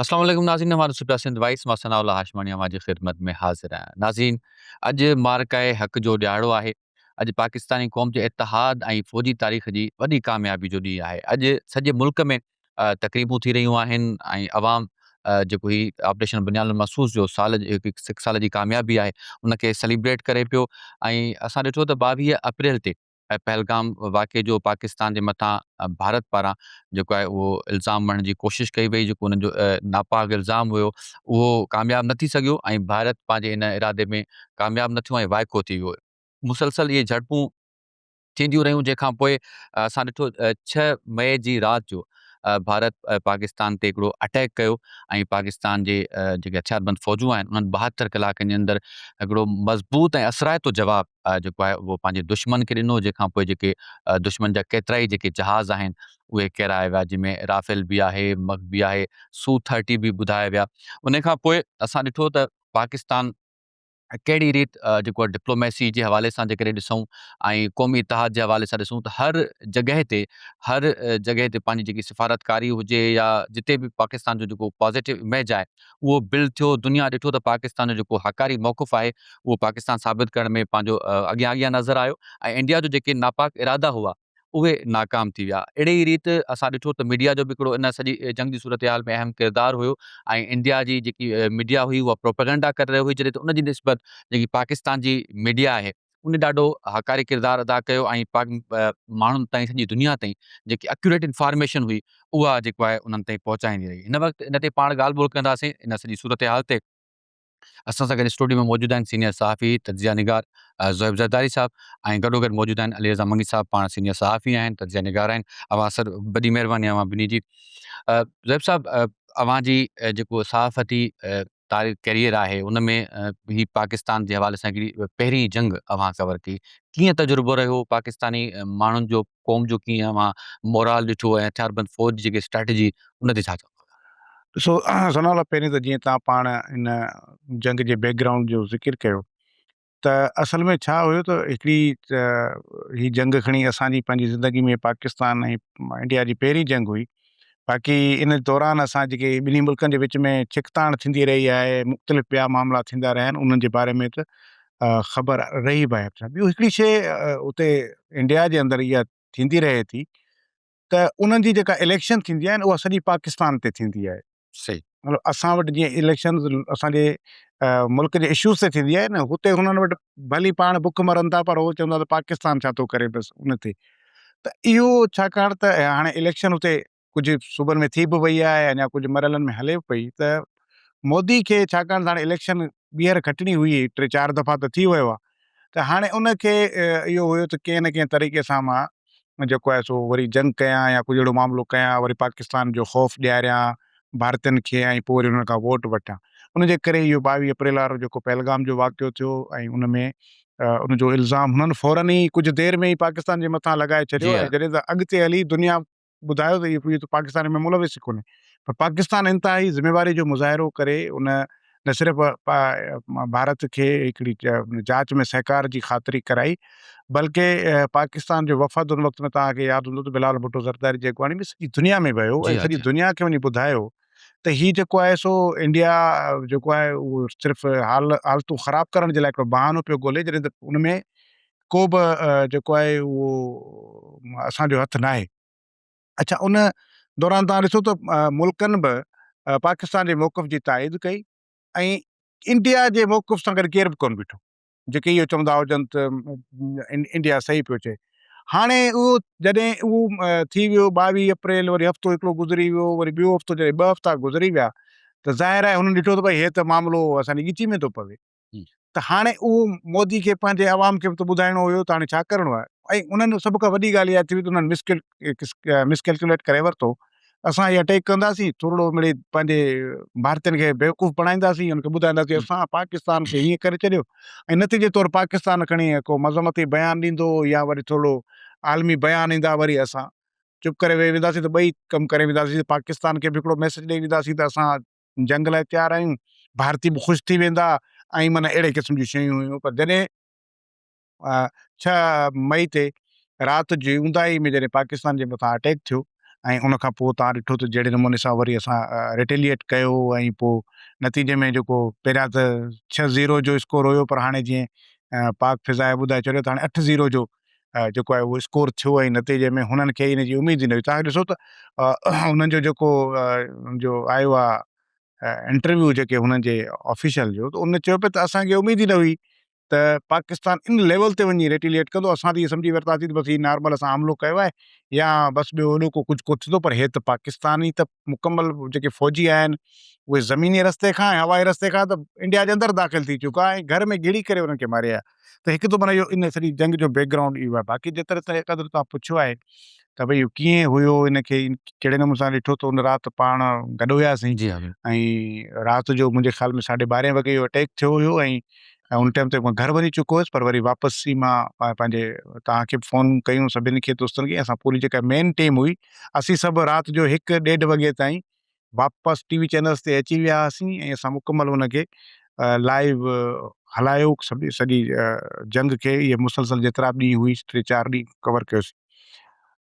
اسلام عليڪم ناظرين اوهان ڏسو پيا سنڌ وائس مان ثناء الله هاشماڻي اوهان جي خدمت ۾ حاضر آهيان ناظرين اڄ معرڪه حق جو ڏيهاڙو آهي اڄ پاڪستاني قوم جي اتحاد ۽ فوجي تاريخ جي وڏي ڪاميابي جو ڏينهن آهي اڄ سڄي ملڪ ۾ تقريبون ٿي رهيون آهن ۽ عوام جيڪو هي آپريشن بنيان المحسوس جو سال سک سال جي ڪاميابي آهي ان کي سيليبريٽ ڪري پيو ۽ اسان ڏٺو ته ٻاويهه اپريل تي ۽ پهلگام واقعي جو پاڪستان جي مٿان ڀارت پاران جيڪو آهي اهو الزام مڙهڻ جي ڪوشش ڪئي وئي جيڪو انهن جو ناپاڪ الزام هيو اهو ڪامياب نه ٿي سگهيو ۽ ڀارت پنهنجي ان ارادي ۾ ڪامياب نه ٿيو ۽ وائکو ٿي ويو. مسلسل اهي جهڙپون ٿينديون رهيون جنهن کان پوء اسان ڏٺو ڇهه مئي جي رات جو ڀارت پاڪستان تي هڪڙو اٽيڪ ڪيو ۽ پاڪستان جي جيڪي هٿياربند فوجون آهن انهن ٻاهتر ڪلاڪن جي اندر هڪڙو مضبوط ۽ اثرائتو جواب جيڪو آهي اهو پنهنجي دشمن کي ڏنو جنهن کان پوء جيڪي دشمن جا ڪيترائي جيڪي جهاز آهن اهي ڪيرايا ويا جنهن ۾ رافيل به آهي مڪ به آهي سو ٿرٽي به ٻڌايا ويا ان کان پوء اسان ڏٺو ته پاڪستان ڪهڙي ريت جيڪو آهي ڊپلوميسي جي حوالي سان جيڪڏهن ڏسون ۽ قومي اتحاد جي حوالي سان ڏسون ته هر جڳهه تي هر جڳهه تي پنهنجي جيڪي سفارتڪاري هجي يا جتي به پاڪستان جو جيڪو پازيٽو اميج آهي اهو بل ٿيو، دنيا ڏٺو ته پاڪستان جو جيڪو هاڪاري موقف آهي اهو پاڪستان ثابت ڪرڻ ۾ پنهنجو اڳيان اڳيان نظر آيو ۽ انڊيا جو جيڪي ناپاڪ ارادا هئا اهي ناڪام ٿي ويا. اهڙي ئي ريت اسان ڏٺو ته ميڊيا جو به هڪڙو ان سڄي جنگ جي صورتحال ۾ اهم ڪردار هيو ۽ انڊيا جي جيڪي ميڊيا هئي اها پروپيگنڊا ڪري رهي هئي جڏهن ته ان جي نسبت جيڪي پاڪستان جي ميڊيا آهي ان ڏاڍو هاڪاري ڪردار ادا ڪيو ۽ پاڪ ماڻهن تائين سڄي دنيا تائين جيڪي اڪيوريٽ انفارميشن هئي اها جيڪو آهي انهن تائين پهچائيندي رهي هن وقت ان تي پاڻ ڳالهه ٻولهه ڪنداسين ان سڄي صورتحال تي اسان سان گڏ اسٽوڊيو ۾ موجود آهن سينيئر صحافي تجزيه نگار زوهيب زرداري صاحب ۽ گڏوگڏ موجود آهن علي رضا منگي صاحب پاڻ سينيئر صحافي آهن تجزيه نگار آهن اوهان سر وڏي مهرباني اوهان ٻنهي جي زوهيب صاحب اوهان جي جيڪو صحافتي تاريخ ڪيريئر آهي ان ۾ هي پاڪستان جي حوالي سان هڪڙي پهرين جنگ اوهان ڪور ڪئي ڪيئن تجربو رهيو پاڪستاني ماڻهن جو قوم جو ڪيئن اوهان مورال ڏٺو ۽ هٿياربند فوج جي جيڪي اسٽريٽجي ان تي ڇا چوندو. ڏسو ثناء الله پهرين ته جيئن تهان پاڻ ان جنگ جي بيڪ گرائونڊ جو ذڪر ڪيو ته اصل ۾ ڇا هيو ته هڪڙي هي جنگ کڻي اسان جي پنهنجي زندگي ۾ پاڪستان ۽ انڊيا جي پهرين جنگ هئي باقي ان دوران اسان جيڪي ٻنهي ملڪن جي وچ ۾ ڇڪتاڻ ٿيندي رهي آهي مختلف ٻيا معاملا ٿيندا رهيا آهن انهن جي باري ۾ ته خبر رهي به آهي ٻيو هڪڙي شيء اتي انڊيا جي اندر اها ٿيندي رهي ٿي ته انهن جي جيڪا اليڪشن ٿيندي آهي اها سڄي پاڪستان تي ٿيندي آهي صحيح مطلب اسان وٽ جيئن اليڪشن اسان جي ملڪ جي اشوز تي ٿيندي آهي نه هتي هنن وٽ ڀلي پاڻ بک مرن ٿا پر هو چوندا ته پاڪستان ڇا ٿو ڪري بس ان تي ته اهو ڇاڪاڻ ته هاڻي اليڪشن هتي ڪجهه صوبن ۾ ٿي به وئي آهي اڃا ڪجهه مرحلن ۾ هلي پئي ته مودي کي ڇاڪاڻ ته هاڻي اليڪشن ٻيهر کٽڻي هئي ٽي چار دفعا ته ٿي ويو آهي ته هاڻي ان کي اهو هيو ته ڪنهن نه ڪنهن طريقي سان مان جيڪو آهي سو وري جنگ ڪيان يا ڪجهه اهڙو معاملو ڪيان وري پاڪستان جو خوف ڏياريان ڀارتين کي ۽ پوء وري انهن کان ووٽ وٺان ان جي ڪري اهو ٻاويهه اپريل وارو جيڪو پهلگام جو واقعو ٿيو ۽ ان ۾ ان جو الزام هنن فورن ئي ڪجهه دير ۾ ئي پاڪستان جي مٿان لڳائي ڇڏيو ۽ جڏهن ته اڳتي هلي دنيا ٻڌايو ته اهي ته پاڪستان ۾ ملوث ئي ڪونهي پر پاڪستان انتهائي ذميواري جو مظاهرو ڪري ان نه صرف ڀارت کي هڪڙي جاچ ۾ سهڪار جي خاطري ڪرائي بلڪه پاڪستان جو وفد ان وقت ۾ توهان کي ياد هوندو ته بلال ڀٽو زرداري جي اڳواڻي ۾ سڄي دنيا ۾ ويو ۽ سڄي دنيا کي وڃي ٻڌايو ته هي جيڪو آهي سو انڊيا جيڪو آهي اهو صرف حالتون خراب ڪرڻ جي لاء هڪڙو بهانو پيو ڳولي جڏهن ته ان ۾ ڪو به جيڪو آهي اهو اسان جو هٿ ناهي. اڇا ان دوران توهان ڏسو ته ملڪن به پاڪستان جي موقف جي تائيد ڪئي ۽ انڊيا جي موقف سان گڏ ڪير به ڪونه بيٺو جيڪي اهو چوندا هجن ته انڊيا صحيح پيو چئي. هاڻي اهو جڏهن اهو ٿي ويو ٻاويهه اپريل وري هفتو هڪڙو گذري ويو وري ٻيو هفتو جڏهن ٻه هفتا گذري ويا ته ظاهر آهي هنن ڏٺو ته ڀئي هي ته معاملو اسان جي ڳچي ۾ ٿو پوي ته هاڻي اهو مودي کي پنهنجي عوام کي به ته ٻڌائڻو هيو ته هاڻي ڇا ڪرڻو آهي ۽ انهن جو سڀ کان وڏي ڳالهه اها ٿي وئي ته انهن مس مس ڪيلڪيوليٽ ڪري ورتو اسان هي اٽيڪ ڪنداسين ٿورڙو مڙي پنهنجي ڀارتين کي بيوقوف بڻائينداسين ان کي ٻڌائينداسين اسان پاڪستان کي هيئن ڪري ڇڏيو ۽ نتيجي طور پاڪستان کڻي ڪو مذمتي بيان ڏيندو يا وري ٿورڙو عالمي بيان ايندا وري اسان چپ ڪري ويهي وينداسين ته ٻئي ڪم ڪري وينداسين پاڪستان کي به هڪڙو ميسيج ڏئي وينداسين ته اسان جنگ لاء تيار آهيون، ڀارتي به خوش ٿي ويندا ۽ معنيٰ اهڙي قسم جون شيون هيون پر جڏهن ڇهه مئي تي رات جي اونداهي ۾ جڏهن پاڪستان جي مٿان اٽيڪ ٿيو ۽ ان کان پوء توهان ڏٺو ته جهڙي نموني سان وري اسان ريٽيليئيٽ ڪيو ۽ پوء نتيجي ۾ جيڪو پهريان ته ڇهه زيرو جو اسڪور هيو پر هاڻي جيئن پاڪ فضائيه ٻڌائي ڇڏيو ته هاڻي اٺ زيرو جو جيڪو آهي اهو اسڪور ٿيو ۽ نتيجي ۾ هنن کي ان جي اميد ئي نه هئي تان ڏسو ته انهن جو جيڪو جو آيو آهي انٽرويو جيڪي هنن جي آفيشل جو ته ان چيو پئي ته اسانکي اميد ئي نه هئي ته پاڪستان ان ليول تي وڃي ريٽيليئيٽ ڪندو اسان ته ائين سمجهي ورتاسي ته بس هي نارمل اسان حملو ڪيو آهي يا بس ٻيو وڏو ڪو ڪجهه ڪوت ٿيندو پر هي ته پاڪستان ئي ته مڪمل جيڪي فوجي آهن اهي زميني رستي کان هوائي رستي کان ته انڊيا جي اندر داخل ٿي چڪا ۽ گهر ۾ گهڙي ڪري انهن کي ماري آيا ته هڪ ته معنيٰ اهو ان سڄي جنگ جو بيڪ گرائونڊ اهو آهي باقي جي طرح سائين قادر توهان پڇيو آهي ته ڀئي اهو ڪيئن هيو ان کي ڪهڙي نموني سان ڏٺو ته ان رات پاڻ گڏ هياسين جي ۽ رات جو منهنجي خيال ۾ ساڍي ٻارهين وڳي اهو اٽيڪ ٿيو هيو ۽ ۽ ان ٽائيم تي مان گهر وڃي چڪو هيس پر وري واپسي مان پنهنجي توهان کي به فون ڪيون سڀني کي دوستن کي اسان پوري جيڪا مين ٽيم هئي اسين سڀ رات جو هڪ ڏيڍ وڳي تائين واپس ٽي وي چينلز تي اچي ويا هئاسين ۽ اسان مڪمل ان کي لائيو هلايو سڀ سڄي جنگ کي اهي مسلسل جيترا به ڏينهن هئي ٽي چار ڏينهن ڪور ڪيوسين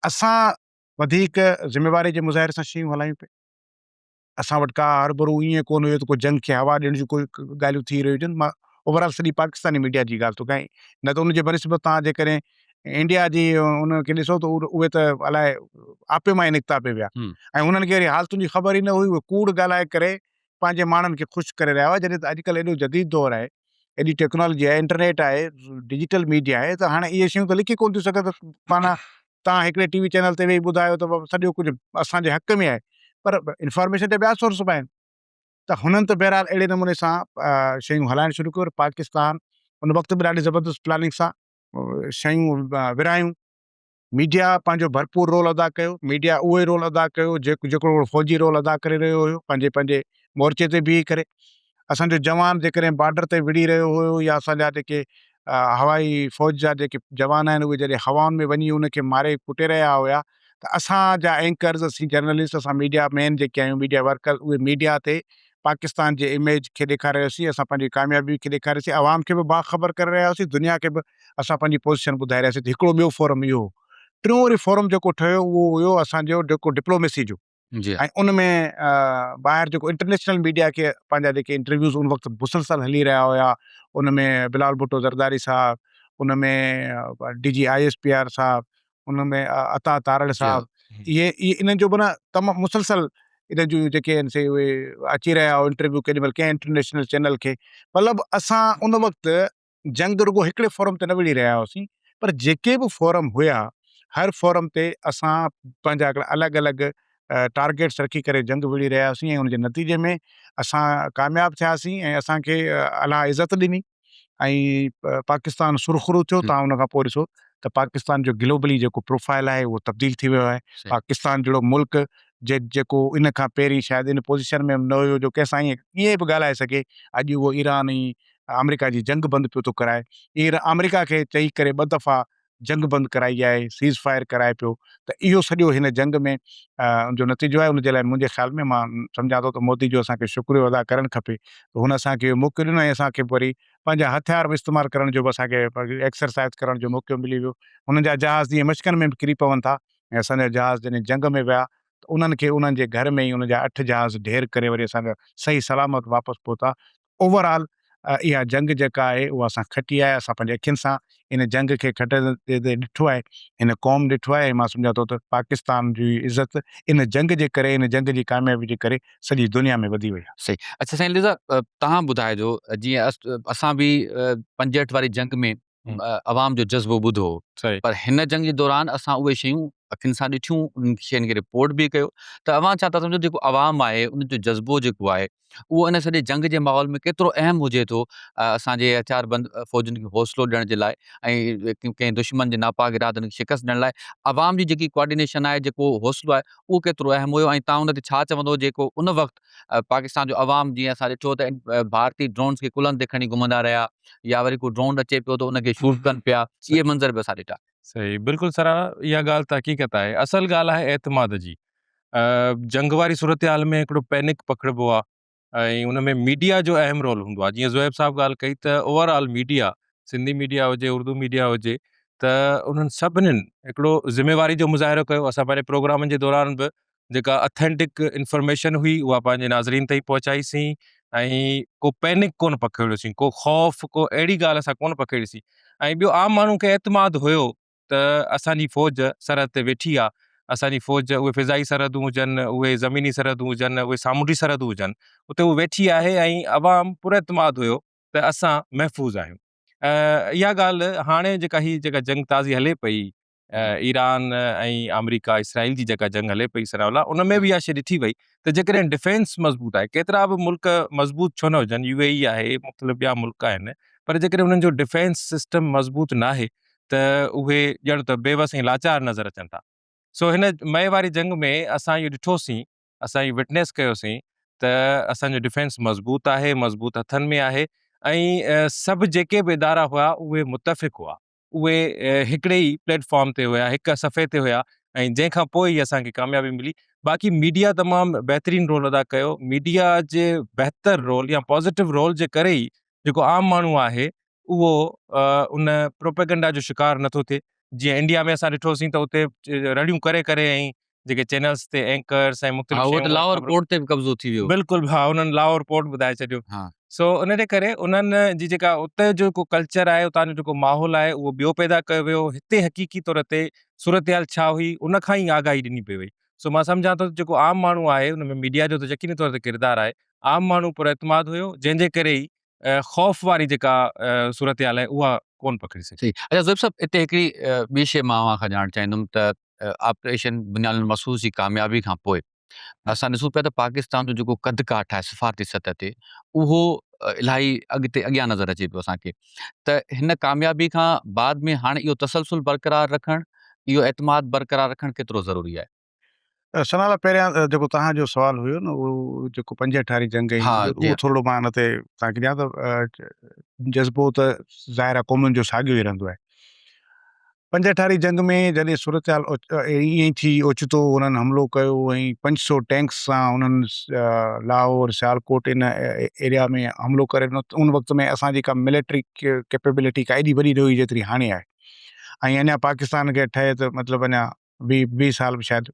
اسان وڌيڪ ذميواري جي مظاهري سان شيون هلايون پئي اسان وٽ ڪا هربرو ائين ڪون هيو ته ڪو جنگ کي هوا ڏيڻ جون ڪوئي ڳالهيون ٿي رهيون هجن مان اوور آل سڄي پاڪستاني ميڊيا جي ڳالهه ٿو ڪيان نه ته ان جي بنسبت تان جيڪڏهن انڊيا جي انهن کي ڏسو ته اهي ته الاء آپي مان ئي نڪتا پئي ويا ۽ انهن کي وري حالتن جي خبر ئي نه هئي اهي ڪوڙ ڳالهائي ڪري پنهنجي ماڻهن کي خوش ڪري رهيا هئا جڏهن ته اڄ ڪلهه ايڏو جديد دور آهي ايڏي ٽيڪنالاجي آهي انٽرنيٽ آهي ڊجيٽل ميڊيا آهي ته هاڻي اهي شيون ته لڪي ڪونه ٿيون سگهن ته معنيٰ تان هڪڙي ٽي وي چينل تي ويهي ٻڌايو ته سڄو ڪجهه اسان جي حق ۾ آهي پر انفارميشن جا ٻيا سورس به آهن ته هنن ته بهرحال اهڙي نموني سان شيون هلائڻ شروع ڪيون پاڪستان ان وقت به ڏاڍي زبردست پلاننگ سان شيون ورهايون، ميڊيا پنهنجو ڀرپور رول ادا ڪيو، ميڊيا اهو ئي رول ادا ڪيو جيڪو هڪڙو فوجي رول ادا ڪري رهيو هيو پنهنجي پنهنجي مورچي تي بيهي ڪري، اسان جو جوان جيڪڏهن بارڊر تي وڙهي رهيو هيو يا اسان جا جيڪي هوائي فوج جا جيڪي جوان آهن اهي جڏهن هوائن ۾ وڃي ان کي ماري ڪٽي رهيا هيا ته اسان جا اينڪرز اسين جرنلسٽ اسان ميڊيا مين جيڪي آهيون ميڊيا ورڪرز اهي ميڊيا تي پاڪستان جي اميج کي ڏيکاري رهياسين اسان پنهنجي ڪاميابي کي ڏيکاري رهياسين عوام کي به باخبر ڪري رهيا هئاسين دنيا کي به اسان پنهنجي پوزيشن ٻڌائي رهياسين ته هڪڙو ٻيو فورم اهو هو ٽيون وري فورم جيڪو ٺهيو اهو هيو اسان جو جيڪو ڊپلوميسي جو جي ها. ۽ ان ۾ ٻاهر جيڪو انٽرنيشنل ميڊيا کي پنهنجا جيڪي انٽرويوز ان وقت مسلسل هلي رهيا هيا ان ۾ بلال ڀٽو زرداري صاحب ان ۾ D G I S P R صاحب ان ۾ عطا تارڙ جي ها. صاحب اهي اهي انهن جو معنيٰ تمام مسلسل انهن جون جيڪي آهن سي اهي اچي رهيا هيا انٽرويو ڪيڏي مهل ڪنهن انٽرنيشنل چينل کي مطلب اسان ان وقت جنگ رڳو هڪڙي فورم تي نه وڙهي رهيا هئاسين پر جيڪي به فورم هيا هر فورم تي اسان پنهنجا هڪڙا الڳ الڳ ٽارگيٽس رکي ڪري جنگ وڙهي رهيا هئاسين ۽ ان جي نتيجي ۾ اسان ڪامياب ٿياسين ۽ اسان کي الله عزت ڏني ۽ پاڪستان سرخرو ٿيو تان ان کان پوء ڏسو ته پاڪستان جو گلوبلي جيڪو پروفائل آهي اهو تبديل ٿي ويو آهي پاڪستان جهڙو ملڪ جي جيڪو ان کان پهرين شايد ان پوزيشن ۾ نه هيو جو ڪنهن سان ائين ائين به ڳالهائي سگهي اڄ اهو ايران ۽ آمريڪا جي جنگ بند پيو ٿو ڪرائي ايئر آمريڪا کي چئي ڪري ٻه دفعا جنگ بند ڪرائي آهي سيز فائر ڪرائي پيو ته اهو سڄو هن جنگ ۾ جو نتيجو آهي ان جي لاء منهنجي خيال ۾ مان سمجهان ٿو ته مودي جو اسان کي شڪريو ادا ڪرڻ کپي ته هن اسان کي موقعو ڏنو ۽ اسان کي وري پنهنجا هٿيار به استعمال ڪرڻ جو به اسان کي ايڪسرسائز ڪرڻ جو موقعو ملي ويو هنن جا جهاز جيئن مشڪن ۾ به ڪري پون ٿا ۽ اسان جا جهاز جڏهن جنگ ۾ ويا ته انهن کي انهن جي گهر ۾ ئي ان جا اٺ جهاز ڍير ڪري وري اسان جا صحيح سلامت واپس پهتا اوور آل اها جنگ جيڪا آهي اها اسان کٽي آهي اسان پنهنجي اکين سان ان جنگ کي کٽي تي ڏٺو آهي هن قوم ڏٺو آهي مان سمجهان ٿو ته پاڪستان جي عزت ان جنگ جي ڪري ان جنگ جي ڪاميابي جي ڪري سڄي دنيا ۾ وڌي وئي آهي. صحيح اڇا سائين ليزا تهان ٻڌائجو جيئن اسان به پنجهٺ واري جنگ ۾ عوام جو جذبو ٻڌو پر هن جنگ جي دوران اسان اهي شيون اکين سان ڏٺيون انهن شين کي رپورٽ به ڪيو ته اوهان ڇا ٿا سمجهو جيڪو عوام آهي ان جو جذبو جيڪو آهي اهو ان سڄي جنگ جي ماحول ۾ ڪيترو اهم هجي ٿو اسان جي هٿيار بند فوجن کي حوصلو ڏيڻ جي لاء ۽ ڪنهن دشمن جي ناپاڪ ارادن کي شڪست ڏيڻ لاء عوام جي جيڪي ڪوآرڊينيشن آهي جيڪو حوصلو آهي اهو ڪيترو اهم هيو ۽ تان ان تي ڇا چوندو جيڪو ان وقت پاڪستان جو عوام جيئن اسان ڏٺو ته ڀارتي ڊرونز کي ڪلهن تي کڻي گهمندا رهيا يا وري ڪو ڊرون اچي پيو ته ان کي شوٽ ڪن پيا اهي منظر به اسان ڏٺا. صحيح بلڪل سرهاڻا اها ڳالهه ته حقيقت آهي اصل ڳالهه آهي اعتماد جي جنگ واري صورتحال ۾ هڪڙو پينڪ پکڙبو آهي ۽ ان ۾ ميڊيا جو اهم رول هوندو آهي جيئن زويب صاحب ڳالهه ڪئي ته overall media Sindhi media هجي اردو ميڊيا هجي ته انهن سڀنين هڪڙو ذميواري جو مظاهرو ڪيو اسان پنهنجي پروگرامن جي دوران به جيڪا اٿينٽڪ انفارميشن هئي اها پنهنجي ناظرين تائين پهچائي سين ۽ ڪو پينڪ ڪونه پکيڙيو سين ڪو خوف ڪو اهڙي ڳالهه اسان ڪونه پکيڙي سين ۽ ٻيو عام ماڻهو کي اعتماد هيو ته اسان جي فوج سرحد تي ويٺي آهي اسان جي فوج اهي فضائي سرحدون هجن اهي زميني سرحدون هجن اهي سامونڊي سرحدون هجن اتي هو ويٺي آهي ۽ عوام پر اعتماد هيو ته اسان محفوظ آهيون اها ڳالهه هاڻي جيڪا هي جيڪا جنگ تازي هلي پئي ايران ۽ آمريڪا اسرائيل جي جيڪا جنگ هلي پئي ثناء الله ان ۾ به اها شيء ڏٺي وئي ته جيڪڏهن ڊفينس مضبوط آهي ڪيترا به ملڪ مضبوط ڇو نه هجن يو اي اي آهي مختلف ٻيا ملڪ آهن پر جيڪڏهن انهن جو ڊفينس سسٽم مضبوط ناهي ته اهي ڄڻ ته بيوس ۽ لاچار نظر اچن ٿا سو هن مئي واري جنگ ۾ اسان اهو ڏٺوسين اسان اهو وٽنيس ڪيوسين ته اسان جو ڊفينس مضبوط آهي مضبوط هٿن ۾ آهي ۽ سڀ جيڪي به ادارا هئا اهي متفق هئا اهي هڪڙي ئي پليٽ فارم تي هيا هڪ صفحي تي هيا ۽ جنهن کان پوء ئي اسان کي ڪاميابي ملي باقي ميڊيا تمام بهترين رول ادا ڪيو ميڊيا جي بهتر رول يا پازيٽو رول جي ڪري ئي جيڪو عام ماڻهو آهي اهو ان پروپيگنڊا جو شڪار نٿو ٿئي جيئن انڊيا ۾ اسان ڏٺوسين ته اتي رڙيون ڪري ڪري ۽ جيڪي چينلز تي اينڪرز ۽ مختلف ها اهو ته لاهور پورٽ تي به قبضو ٿي ويو بلڪل ها انهن لاهور پورٽ ٻڌائي ڇڏيو ها سو ان جي ڪري انهن جي جيڪا اتي جو ڪو ڪلچر آهي اتان جو جيڪو ماحول آهي اهو ٻيو پيدا ڪيو ويو هتي حقيقي طور تي صورتحال ڇا هئي ان کان ئي آگاهي ڏني پئي وئي سو مان سمجهان ٿو جيڪو عام ماڻهو آهي ان ۾ ميڊيا جو ته يقيني طور تي ڪردار آهي عام ماڻهو پر اعتماد هيو جنهن جي ڪري ئي خوف واري جيڪا صورتحال آهي اها ڪون پکڙي سگهي. صحيح اچا زويب صاحب هتي هڪڙي ٻي شيء مان اوهان کان ڄاڻڻ چاهيندم ته آپريشن بنيان المصوص جي ڪاميابي کان پوء اسان ڏسون پيا ته پاڪستان جو جيڪو قد ڪاٺ آهي سفارتي سطح تي اهو الاهي اڳتي اڳيان نظر اچي پيو اسان کي ته هن ڪاميابي کان بعد ۾ هاڻي اهو تسلسل برقرار رکڻ اهو اعتماد برقرار رکڻ ڪيترو ضروري آهي. ثنا لاء پهريان جيڪو توهان جو سوال هيو نه اهو جيڪو پنجهٺ واري جنگ ۽ اهو ٿورڙو مان ان تي توهان کي ڏيان ته جذبو ته ظاهر آهي قومن جو ساڳيو ئي رهندو آهي پنجهٺاري جنگ ۾ جڏهن صورتحال ايئن ئي ٿي، اوچتو انهن حملو ڪيو ۽ پنج سؤ ٽينڪس سان انهن لاهور، سيالڪوٽ ان ايريا ۾ حملو ڪري ڏنو. ان وقت ۾ اسان جي ڪا ملٽري ڪيپيبلٽي ڪا ايڏي وڏي نه هئي جيتري هاڻي آهي ۽ اڃا پاڪستان کي اٺ آهي ته مطلب اڃا ويهه سال به شايد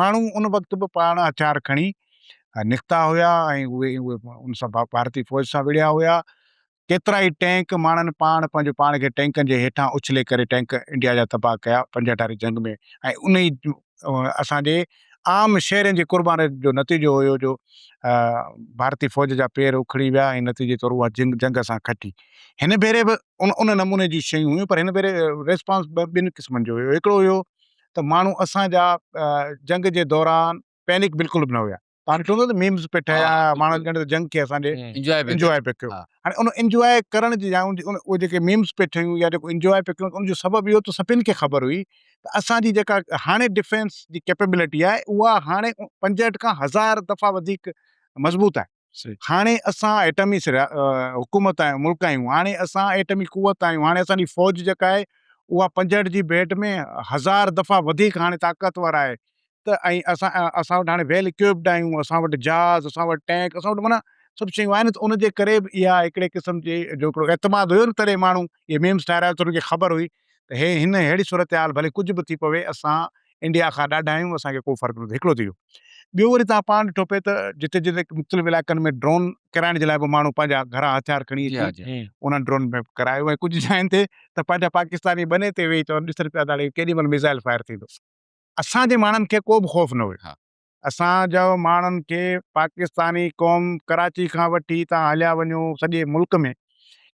ماڻهو ان وقت به پاڻ هٿيار کڻي نڪتا هيا ۽ اهي ان سان ڀارتي فوج سان وڙهيا هيا. ڪيترا ئي ٽينڪ ماڻهن پاڻ پنهنجو پاڻ کي ٽينڪن جي هيٺان اڇلي ڪري ٽينڪ انڊيا جا تباهه ڪيا پنجاهه واري جنگ ۾ ۽ ان ئي اسان جي عام شهرين جي قربان جو نتيجو هيو جو ڀارتي فوج جا پير اکڙي ويا ۽ نتيجي طور اها جنگ جنگ اسان کٽي. هن ڀيري به ان نموني جون شيون هيون پر هن ڀيري ريسپانس ٻن قسمن جو هيو. هڪڙو هيو ته ماڻهو اسان جا جنگ جي دوران پينڪ بلڪل به نه هيا پاڻ چون ٿا نه ميمز پئي ٺهيا ماڻهن ڄڻ ته جنگ کي اسان جي انجواء پئي انجواء پئي ڪيو هاڻي ان انجواء ڪرڻ جي جاء اهي جيڪي ميمز پئي ٺهيون يا جيڪو انجواء پئي ڪيون ان جو سبب اهو ته سڀني کي خبر هئي ته اسان جي جيڪا هاڻي ڊفينس جي ڪيپيبلٽي آهي اها هاڻي پنجهٺ کان هزار دفعا وڌيڪ مضبوط آهي هاڻي اسان ايٽمي حڪومت آهيون ملڪ آهيون هاڻي اسان ايٽمي قوت آهيون هاڻي اسان جي فوج جيڪا آهي اها پنجهٺ جي ڀيٽ ۾ هزار دفعا وڌيڪ هاڻي طاقتور آهي ته ۽ اسان اسان وٽ هاڻي ويل اڪوپڊ آهيون اسان وٽ جهاز اسان وٽ ٽينڪ اسان وٽ معنيٰ سڀ شيون آهن ته ان جي ڪري به اها هڪڙي قسم جي جو هڪڙو اعتماد هيو نه تڏهن ماڻهو اهي ميمز ٺاهرايو ته ان کي خبر هئي ته هي هن ههڙي صورتحال ڀلي ڪجهه به ٿي پوي اسان انڊيا کان ڏاڍا آهيون اسان کي ڪو فرق نه ٿو هڪڙو ٿي ويو ٻيو وري توهان پاڻ ڏٺو پئي ته جتي جتي مختلف علائقن ۾ ڊرون ڪرائڻ جي لاء به ماڻهو پنهنجا گهرا هٿيار کڻي اچي انهن ڊرون ۾ ڪرايو ۽ ڪجهه جاين تي ته پنهنجا پاڪستاني ٻني تي ويهي چون ڏسن پيا ته هاڻي ڪيڏي مهل ميزائل فائر ٿيندو اسان جي ماڻهن کي ڪو به خوف نه هيو اسان جا ماڻهن کي پاڪستاني قوم ڪراچي کان وٺي تان هليا وڃو سڄي ملڪ ۾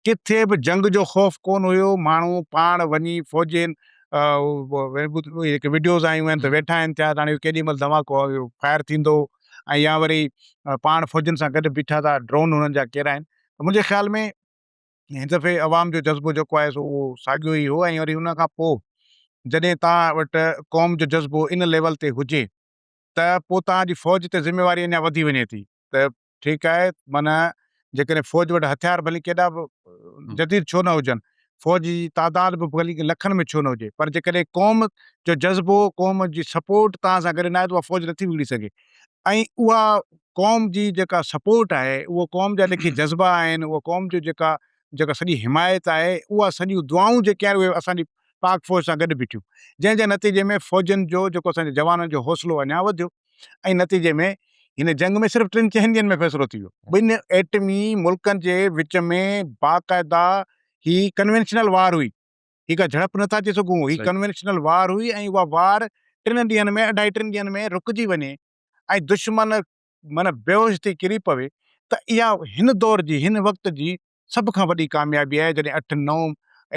ڪٿي به جنگ جو خوف ڪون هيو ماڻهو پاڻ وڃي فوجين جيڪي وڊيوز آيون آهن ته ويٺا آهن ٿيا هاڻي ڪيڏي مهل دھماڪو فائر ٿيندو ۽ يا وري پاڻ فوجين سان گڏ بيٺا ٿا ڊرون هنن جا ڪيرا آهن منهنجي خيال ۾ هن دفعي عوام جو جذبو جيڪو آهي سو اهو ساڳيو ئي هو ۽ وري ان کان پوء جڏهن توهان وٽ قوم جو جذبو ان ليول تي هجي ته پوء توهان جي فوج تي ذميواري اڃا وڌي وڃي ٿي ته ٺيڪ آهي معنيٰ جيڪڏهن فوج وٽ هٿيار ڀلي ڪيڏا به جديد ڇو نه هجن، فوج جي تعداد به ڀلي لکن ۾ ڇو نه هجي پر جيڪڏهن قوم جو جذبو قوم جي سپورٽ توهان سان گڏ نه آهي ته اها فوج نٿي وگڙي سگهي ۽ اها قوم جي جيڪا سپورٽ آهي، اهو قوم جا جيڪي جذبا آهن، اها قوم جو جيڪا جيڪا سڄي حمايت آهي، اها سڄيون دعائون جيڪي آهن اهي اسان جي پاڪ فوج سان گڏ بيٺيون، جنهن جي نتيجي ۾ فوجين جو جيڪو اسان جي جوانن جو حوصلو اڃا وڌيو ۽ نتيجي ۾ هن جنگ ۾ صرف ٽن چئن ڏينهن ۾ فيصلو ٿي ويو. ٻن ايٽمي ملڪن جي وچ ۾ باقاعده هي ڪنوينشنل وار هئي. هي ڪا جهڙپ نٿا چئي سگهون، هي ڪنوينشنل وار هئي ۽ اها وار ٽن ڏينهن ۾ اڍائي ٽن ڏينهن ۾ رڪجي وڃي ۽ دشمن معنيٰ بيهوش ٿي ڪري پوي ته اها هن دور جي هن وقت جي سڀ کان وڏي ڪاميابي آهي جڏهن اٺ نو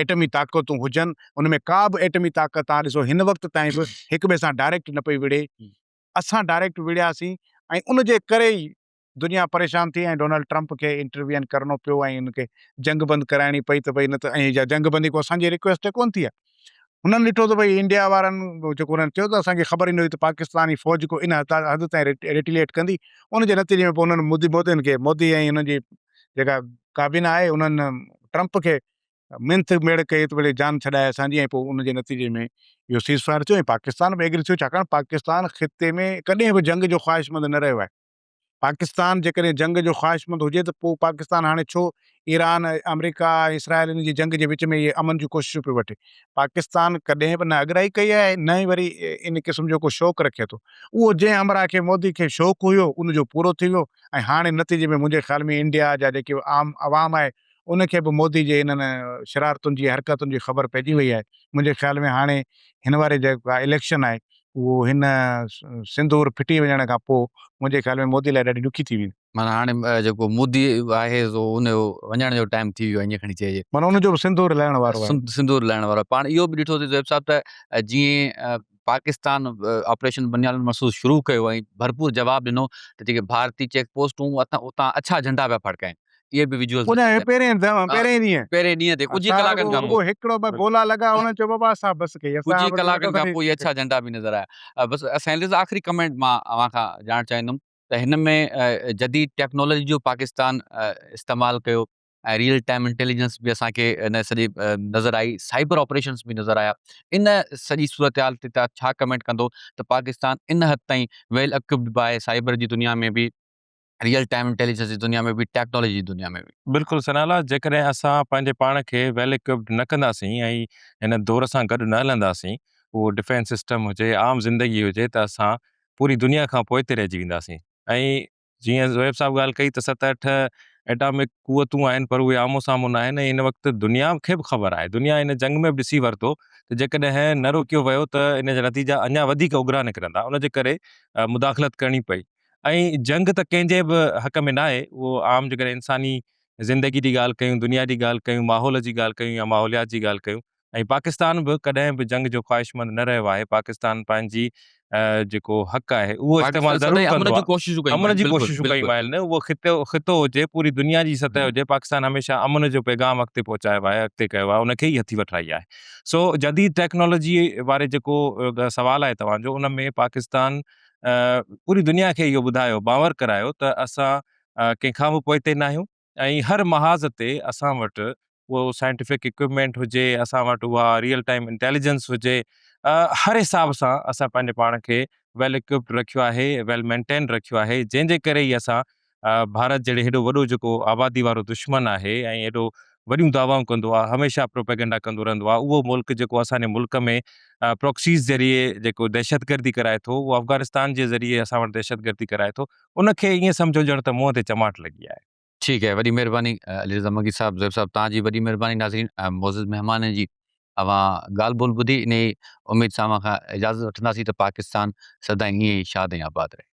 ايٽمي طاقتون هجن ان ۾ ڪا به ايٽمي طاقت توهان ڏسو هن وقت تائين به هڪ ٻئي سان ڊائريڪٽ نه پئي وڙهي اسان ڊائريڪٽ وڙهياسين ۽ ان جي ڪري ئي دنيا پريشان ٿي ۽ ڊونلڊ ٽرمپ کي انٽروين ڪرڻو پيو ۽ ان کي جنگ بند ڪرائڻي پئي ته ڀئي نه ته ائين اها جنگ بندي ڪو اسان جي رڪويسٽ تي ڪونه ٿي آهي. هنن ڏٺو ته ڀئي انڊيا وارن جيڪو انهن چيو ته اسان کي خبر ئي نه هئي ته پاڪستاني فوج جيڪو ان حد تائين ريٽيليئيٽ ڪندي ان جي نتيجي ۾ پوء انهن مودي مودين کي مودي ۽ انهن جي جيڪا ڪابينا آهي انهن ٽرمپ کي منٿ ميڙ ڪئي ته ڀلي جان ڇڏائي اسان جي ۽ پوء ان جي نتيجي ۾ اهو سيز فائر ٿيو ۽ پاڪستان به ايگري ٿيو ڇاڪاڻ پاڪستان خطي ۾ ڪڏهن به جنگ جو خواهشمند نه رهيو آهي. پاڪستان جيڪڏهن جنگ جو خواهشمند هجي ته پوء پاڪستان هاڻي ڇو ايران، آمريڪا ۽ اسرائيل انهن جي جنگ جي وچ ۾ اهي امن جون ڪوششون پيو وٺي. پاڪستان ڪڏهن به نه اڳرائي ڪئي آهي نه ئي وري ان قسم جو ڪو شوق رکي ٿو. اهو جنهن همراهه کي مودي کي شوق هيو ان جو پورو ٿي ويو ۽ هاڻي نتيجي ۾ منهنجي خيال ۾ انڊيا جا جيڪي عام عوام آهي ان کي به مودي جي انهن شرارتن جي حرڪتن جي خبر پئجي وئي آهي. منهنجي خيال ۾ هاڻي هن واري جيڪا اليڪشن آهي اهو هن سندور ڦٽي وڃڻ کان پوء منهنجي خيال ۾ مودي لاء ڏاڍي ڏکي ٿي ويندي. معنيٰ هاڻي جيڪو مودي آهي سو ان جو وڃڻ جو ٽائيم ٿي ويو آهي ائين کڻي چئجي. معنيٰ ان جو به سندور لهڻ وارو آهي. سندور لهڻ وارو آهي. پاڻ اهو به ڏٺوسي زويب صاحب ته جيئن پاڪستان آپريشن بنيان مرصوص شروع ڪيو ۽ ڀرپور جواب ڏنو ته جيڪي ڀارتي چيڪ پوسٽون هئون اتان اڇا جهنڊا پيا ڦڙڪائين. اهي به ويجوئلز ان جي پهرين ڏينهن پهرين ڏينهن پهرين ڏينهن تي ڪجهه ئي ڪلاڪن کان پوء هڪڙو ٻه گولا لڳا هن چيو بابا اسان بس ڪئي اسان ڪجهه ئي ڪلاڪن کان پوء اڇا جهنڊا به نظر آيا بس سائنلز آخري ڪمينٽ مان اوهان کان ڄاڻڻ چاهيندم ته هن ۾ جديد ٽيڪنالاجي جو پاڪستان استعمال ڪيو ۽ ريئل ٽائيم انٽيليجنس به اسان کي ان سڄي نظر آئي سائبر آپريشنس به نظر آيا ان سڄي صورتحال تي تان ڇا ڪمينٽ ڪندو ته پاڪستان ان حد تائين ويل اڪوپڊ به آهي سائبر جي دنيا ۾ به ريئل ٽائيم انٽيليجنس جي دنيا ۾ به ٽيڪنالاجي جي دنيا ۾ به. بلڪل ثناء الله جيڪڏهن اسان پنهنجي پاڻ کي ويل اڪوپڊ نه ڪنداسين ۽ هن دور سان گڏ نه هلنداسين اهو ڊفينس سسٽم هجي عام زندگي هجي ته اسان پوري دنيا کان پوئتي رهجي وينداسين ۽ جيئن زويب صاحب ڳالهه ڪئي ته ست اٺ ايٽامڪ قوتون آهن پر اهي آمهون سامهون نه آهن ۽ هن وقت دنيا کي به خبر آهي دنيا هن جنگ ۾ به ڏسي ورتو ته جيڪڏهن نه روڪيو ويو ته ان جا نتيجا اڃا وڌيڪ اگرا نڪرندا ان جي ڪري مداخلت ڪرڻي پئي ۽ جنگ ته ڪنهن جي به حق ۾ ناهي، اهو عام جيڪڏهن انساني زندگي جي ڳالهه ڪيون، دنيا جي ڳالهه ڪيون، ماحول جي ڳالهه ڪيون يا ماحوليات جي ڳالهه ڪيون ۽ پاڪستان به ڪڏهن به جنگ جو خواهشمند نه رهيو آهي، پاڪستان پنهنجي جيڪو حق آهي اهو استعمال ضرور ڪندو آهي، امن جون ڪوششون ڪيون آهن نه اهو خطو هجي پوري دنيا جي سطح هجي پاڪستان هميشه امن جو پيغام اڳتي پهچايو آهي، اڳتي ڪيو آهي ان کي ئي هٿي وٺرائي آهي سو جديد ٽيڪنالاجي واري جيڪو سوال آهي توهان جو ان ۾ پاڪستان پوري دنيا کي اهو ٻڌايو باور ڪرايو ته اسان ڪنهن کان به پوئتي نه آهيون ۽ هر محاذ تي اسان وٽ اهو سائنٽيفڪ اڪوپمينٽ هجي اسان وٽ اها ريئل ٽائيم انٽيليجنس هجي هر حساب سان اسان پنهنجي پاڻ کي ويل اڪوپڊ رکيو آهي ويل مينٽينڊ رکيو آهي جنهن جي ڪري ئي اسان ڀارت جهڙي هيڏو وڏو جيڪو آبادي وارو دشمن آهي ۽ هيڏو وڏيون دعوائون ڪندو آهي هميشه پروپيگنڊا ڪندو رهندو آهي اهو ملڪ جيڪو اسان جي ملڪ ۾ پروڪسيز ذريعي جيڪو دهشتگردي ڪرائي ٿو اهو افغانستان جي ذريعي اسان وٽ دهشتگردي ڪرائي ٿو ان کي ائين سمجهو ڄڻ ته منهن تي چماٽ لڳي آهي. ٺيڪ آهي وڏي مهرباني علي رضا مگي صاحب زيب صاحب توهان جي وڏي مهرباني ناظرين ۽ معزز مهمانن جي اوهان ڳالهه ٻولهه ٻڌي انهي اميد سان اوهان کان اجازت وٺنداسين ته پاڪستان سدائين ائين ئي شاد ۽ آباد رهي.